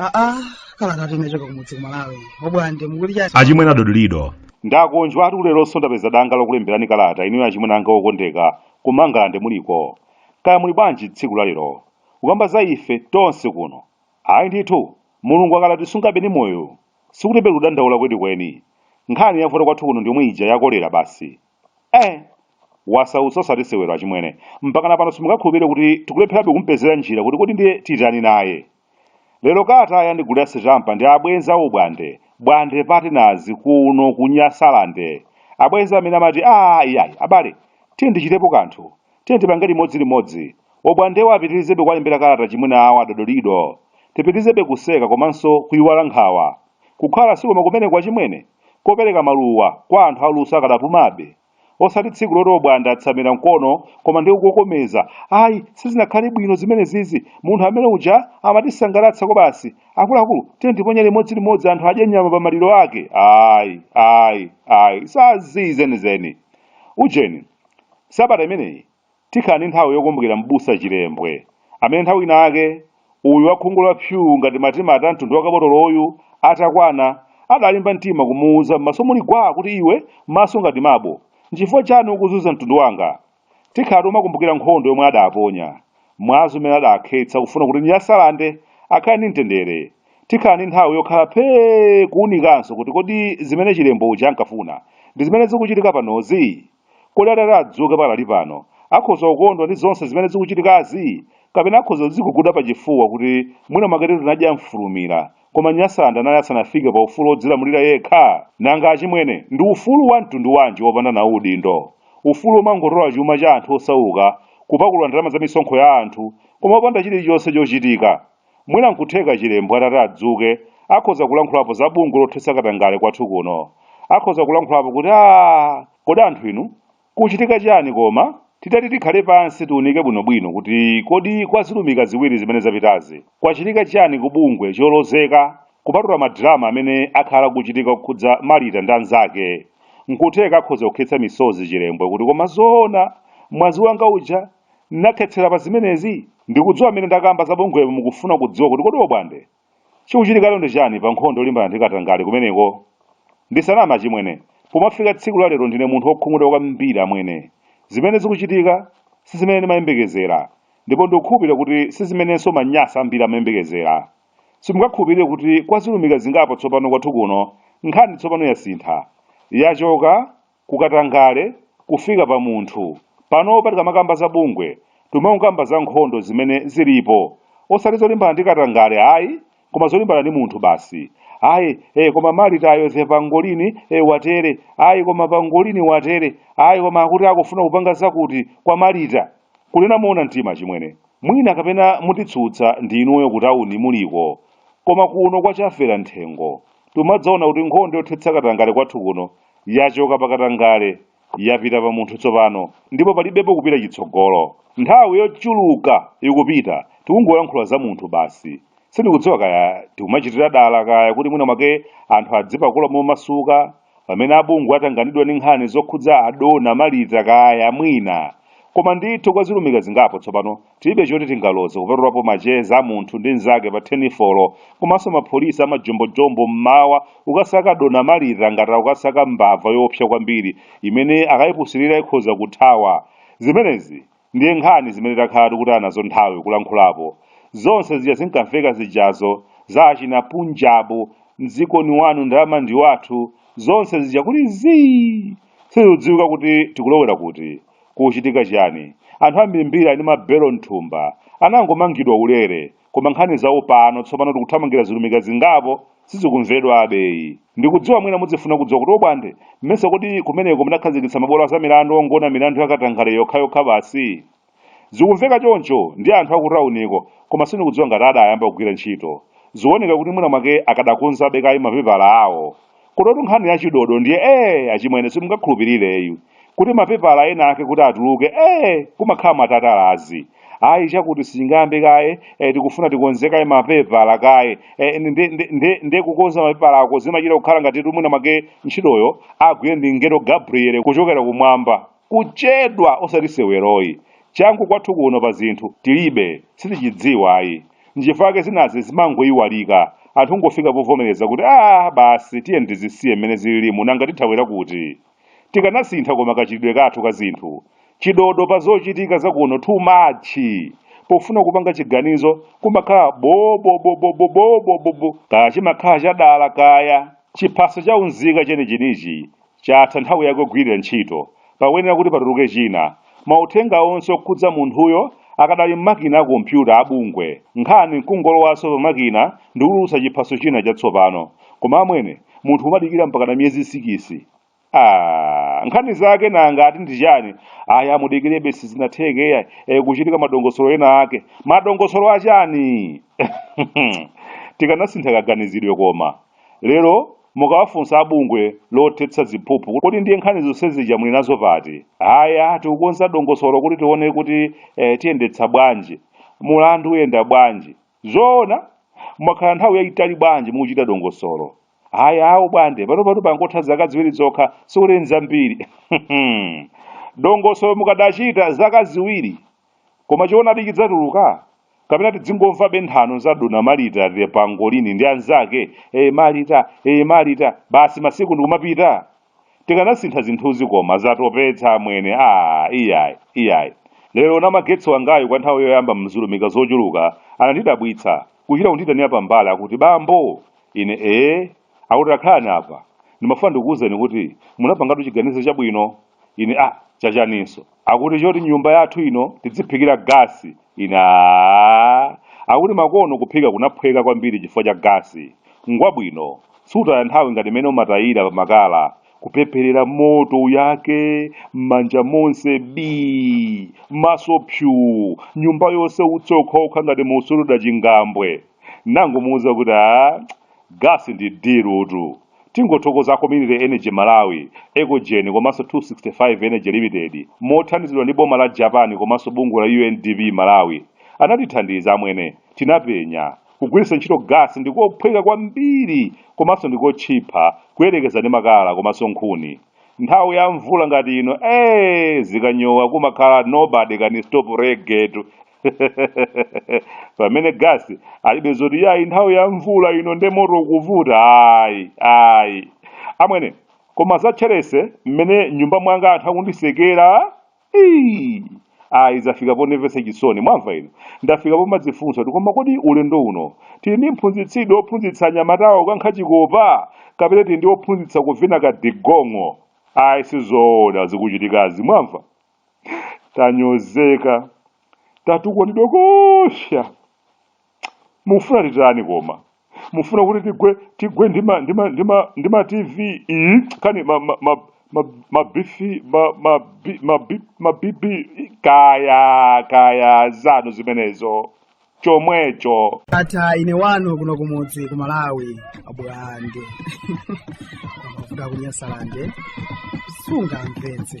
aa kala tati inachoka kumudzi kumalawi obwande mukuti chani achimwene adodolido ndakonjwa ati leronso ndapeza danga lokulemberani kalata inuyo achimwene anga okondeka kumangalande muliko kaya muli bwanji tsiku la lero kukamba za ife tonse kuno ayi ndithu Mulungu akanatisungabe ndi moyo, sikuti pali kudandaula kwenikweni. Nkhani yavuta kwathu kuno ndi yomwe ija ya kolera basi. Eh! Wasautsa osati sewero achimwene. Mpakana pano simungakhulupirire kuti tikulepherabe kumupezera njira kuti kodi ndiye titani naye. Lero kalatayi andigulira sitampa ndi abwenzi a Obwande, Bwande Partners kuno ku Nyasalande. Abwenzi amene amati, Aaa iyayi, abale, tiyeni tichitepo kanthu. Tiyeni tipange limodzi limodzi. Obwandewa apitirizebe kuwalembera kalata achimwene awo a Dodolido. Tipitirizebe kuseka komanso kuiwala nkhawa. Kukhala sikoma kumeneku achimwene? Kopereka maluwa kwa anthu aluso akadapumabe. Osati tsiku loti Obwande atsamira mkono koma ndi kukokomeza, Ayi, sizinakhale bwino zimenezizi. Munthu amene uja amatisangalatsa kwabasi. Akuluakulu, tiyeni tiponyere limodzi limodzi anthu adye nyama pamaliro ake. Ayi, ayi, ayi. Za zii zenizeni. Ujeni. Sabata imeneyi tikhala ndi nthawi yokumbukira m'busa Chilembwe amene nthawi inayake uyu wakhungu la psuu ngati matimati a mtundu wa kabotoloyu atakwana adalimba mtima kumuuza m'maso muli gwaa kuti iwe maso ngati mabo nchifukwa chani ukuzunza mtundu wanga? Tikhala tomakumbukira nkhondo yomwe adaponya, mwazi umene adakhetsa kufuna kuti Nyasalande akhale ndi mtendere. Tikhala ndi nthawi yokhala phee kuunikanso kuti kodi zimene Chilembwe uja ankafuna ndi zimene zikuchitika panozi? Kodi atati adzuke pakali pano, akhoza kukondwa ndi zonse zimene zikuchitikazi? Kapena akhoza kudziguguda pachifuwa kuti, Mwina mwaketu tinadya mfulumira. Koma Nyasalande anali asanafike pa ufulu wodzilamulira yekha? Nanga achimwene, ndi ufulu wa mtundu wanji wopanda nawo udindo? Ufulu womangotola chuma cha anthu osauka, kupakulula ndalama za misonkho ya anthu, koma popanda chilichonse chochitika? Mwina nkutheka Chilembwe atati adzuke akhoza kulankhulapo za bungwe lothetsa katangale kwathu kuno. Akhoza kulankhulapo kuti aah kodi anthu inu kuchitika chani koma? Titati tikhale pansi tiunike bwinobwino kuti kodi kwa zilumika ziwiri zimene zapitazi kwachitika chani ku bungwe cholozeka kupatula ma drama amene akhala akuchitika kukhudza Marita ndi anzake. Nkutheka akhoza kukhetsa misozi Chilembwe kuti koma zoona mwazi wanga uja? Nakhetsela pa zimenezi? Ndikudziwa mmene ndakamba za bungwepo mukufuna kudziwa kuti kodi obwande, chikuchitika lero ndi chani pa nkhondo yolimbana ndi katangale kumeneko? Ndisaname achimwene, pomafika tsiku la lero ndine munthu wokhumudwa kwambiri amwene. Zimene zikuchitika sizimene ndimayembekezera ndipo ndikukhulupirira kuti sizimenenso Manyasa ambiri amayembekezera. Simungakhulupirire kuti kwa zilumika zingapo tsopano kwathu kuno nkhani tsopano yasintha. Yachoka. ku katangale kufika pa munthu. Panopa tikamakamba za bungwe timakamba za nkhondo zimene zilipo osati zolimbana ndi katangale ayi koma zolimbana ndi munthu basi ayi eh, koma Malitayo the pangolini eh, watere ayi koma pangolini watere ayi koma akuti akufuna kupanga zakuti kwa Malita kunena moona mtima achimwene mwina kapena munditsutsa ndi inuyo kutauni muliko koma kuno kwa Chafera mthengo timadzaona kuti nkhondo yothetsa katangale kwathu kuno Yachoka pa katangale, yapita pa munthu tsopano, ndipo palibepo kupita chitsogolo. Nthawi yochuluka ikupita, tikungoyankhula za munthu basi. Sindikudziwa kaya tikumachitira dala kaya kuti mwina mwake anthu adzipakula momasuka pamene abungwe atanganidwa ndi nkhani zokhudza adona Malita kaya mwina. Koma ndithu kwa zilumika zingapo tsopano Tilibe choti tingaloze kupatulapo macheza a munthu ndi mnzake pa thenifoni komanso mapolisi amajombojombo m'mawa kukasaka adona Malita ngati akukasaka mbava yoopsa kwambiri imene akaipusilira ikhoza kuthawa. Zimenezi ndiye nkhani zimene takhala tikutaya nazo nthawi kulankhulapo. Zonse zija zinkamveka zijazo, za achina Punjabu, mdziko ni wanu ndalama ndi wathu, zonse zija kuli zii! Sizikudziwika kuti tikulowera kuti. Kukuchitika chani? Anthu ambirimbiri ali ndi ma belo mthumba anangomangidwa ulere koma nkhani zawo pano tsopano tikuthamangira zilumika zingapo sizikumvedwabe ayi. Ndikudziwa mwina mudzifuna kudziwa kuti obwande mmesa kodi kumeneko munakhazikitsa mabwalo azamilandu ongona milandu ya katangale yokhayokha basi? Zikumveka choncho ndi anthu akutauniko koma sindikudziwa ngati adayamba kugwira ntchito. Zikuoneka kuti mwina mwake akadakonzabe kaye mapepala awo. Kunotu nkhani ya chidodo ndiye ee achimwene simungakhulupirire ayi kuti mapepala ena ake kuti atuluke ee kumakhala matatalazi ayi chakuti sichingayambe kaye e, tikufuna tikonze kaye mapepala kaye e, nde, nde, nde, nde kukonza mapepalako zimachita kukhala ngati kuti mwina mwake ntchitoyo agwire ndi mngelo Gabriele kuchokera kumwamba Kuchedwa osati sewero ayi. Changu kwathu kuno pa zinthu tilibe, sitichidziwa ayi. Nchifukwa chake zinazi zimangoiwalika. Anthu kungofika povomereza kuti aah basi tiyeni tizisiye mmene zililimu nanga tithawira kuti? Tikanasintha koma kachitidwe kathu ka zinthu. Chidodo pa zochitika za kuno too much. Pofuna kupanga chiganizo kumakhala bo bo bo bo bo bo bo bo bo. Kaya chimakhala chadala kaya. Chiphaso cha unzika chenichenichi. Chatha nthawi yake yogwirira ntchito. Pakuyenera kuti patuluke china. Mauthenga onse okhudza munthuyo akadali m'makina a kompyuta a bungwe. Nkhani nkungolowanso pa makina ndi kutulutsa chiphaso china chatsopano. Koma amwene, munthu umadikira mpakana miyezi sikisi? Aaa, nkhani zake nanga ati ndi chani? Ayi amudikirebe sizinatheke iyayi, e, kuchitika madongosolo ena ake. Madongosolo a chani? Tikanasintha kaganizidwe koma. Lero mukawafunsa a bungwe lothetsa ziphuphu kuti kodi ndiye nkhani zonse zija muli nazo pati? Haya tikukonza dongosolo kuti tione kuti eh, tiyendetsa bwanji, mulandu uyenda bwanji. Zoona mwakhala nthawi yayitali bwanji mukuchita dongosolo? Haya awo bwande panopatu pangotha zaka ziwiri zokha sikuti nzambiri. Dongosolo mukadachita zaka ziwiri Koma choonadi chidzatuluka? Kapena tidzingomvabe nthano za Dona Marita the Pangolini ndi anzake, eh Marita, eh Marita, basi masiku ndikumapita? Tikanasintha zinthuzi koma zatopetsa amwene. Ah, iyayi, iyayi. Lero namagetsi wangayu kwa nthawi yoyamba m'chulumika zochuluka anandidabwitsa kuchita kunditanira pambali akuti bambo ine ee akuti takhalani apa ndimafuna ndikuwuzeni kuti munapangatu chiganizo chabwino ine ah chachaninso akuti choti nyumba yathu ino tidziphikira gasi ine "Ah." akuti makono kuphika kunaphweka kwambiri chifukwa cha gasi ngwabwino sutaya nthawi ngati imene umatayira pa makala kupepherera moto wake m'manja monse bi maso psuu nyumba yonse utsi okhaokha ngati mukusuta chingambwe ndangomuuza kuti a gasi ndi dirutu Tingothokoza a Community Energy Malawi, Ecogen komanso 265 Energy Limited mothandizidwa ndi boma la Japan komanso bungwe la UNDP Malawi. Anatithandiza amwene. Tinapenya. Kugwiritsa ntchito gasi ndi kophweka kwambiri komanso ndi kotchipha kuyerekeza ndi makala komanso nkhuni. Nthawi ya mvula ngati ino, ee zikanyowa kumakhala nobody can stop reggae tu. pamene gasi alibe zoti iyayi nthawi ya mvula ino nde moto kuvuta ayi ayi amwene koma za Chelsea mmene m'nyumba mwanga anthu akundisekera Ii! ayi zafika pondimvetsa chisoni mwamva ino ndafika pomadzifunsa kuti koma kodi ulendo uno tili ndi mphunzitsidi ophunzitsa anyamatawa kukankha chikopa kapena tili ndi ophunzitsa kuvina ka digong'o ayi sizoona zikuchitikazi mwamva tanyozeka tatukwatidwa koopsa mufuna titani koma mufuna kuti tigwe tigwe ndi ma ndi ma ndi ma ndi ma tv iyi kani ma ma ma ma ma bifi ma ma bi- ma bi- ma bibi kaya kaya zanu zimenezo chomwecho ata ine wanu kuno kumudzi ku malawi abwande mafuta kunyasalande sunga mpenzi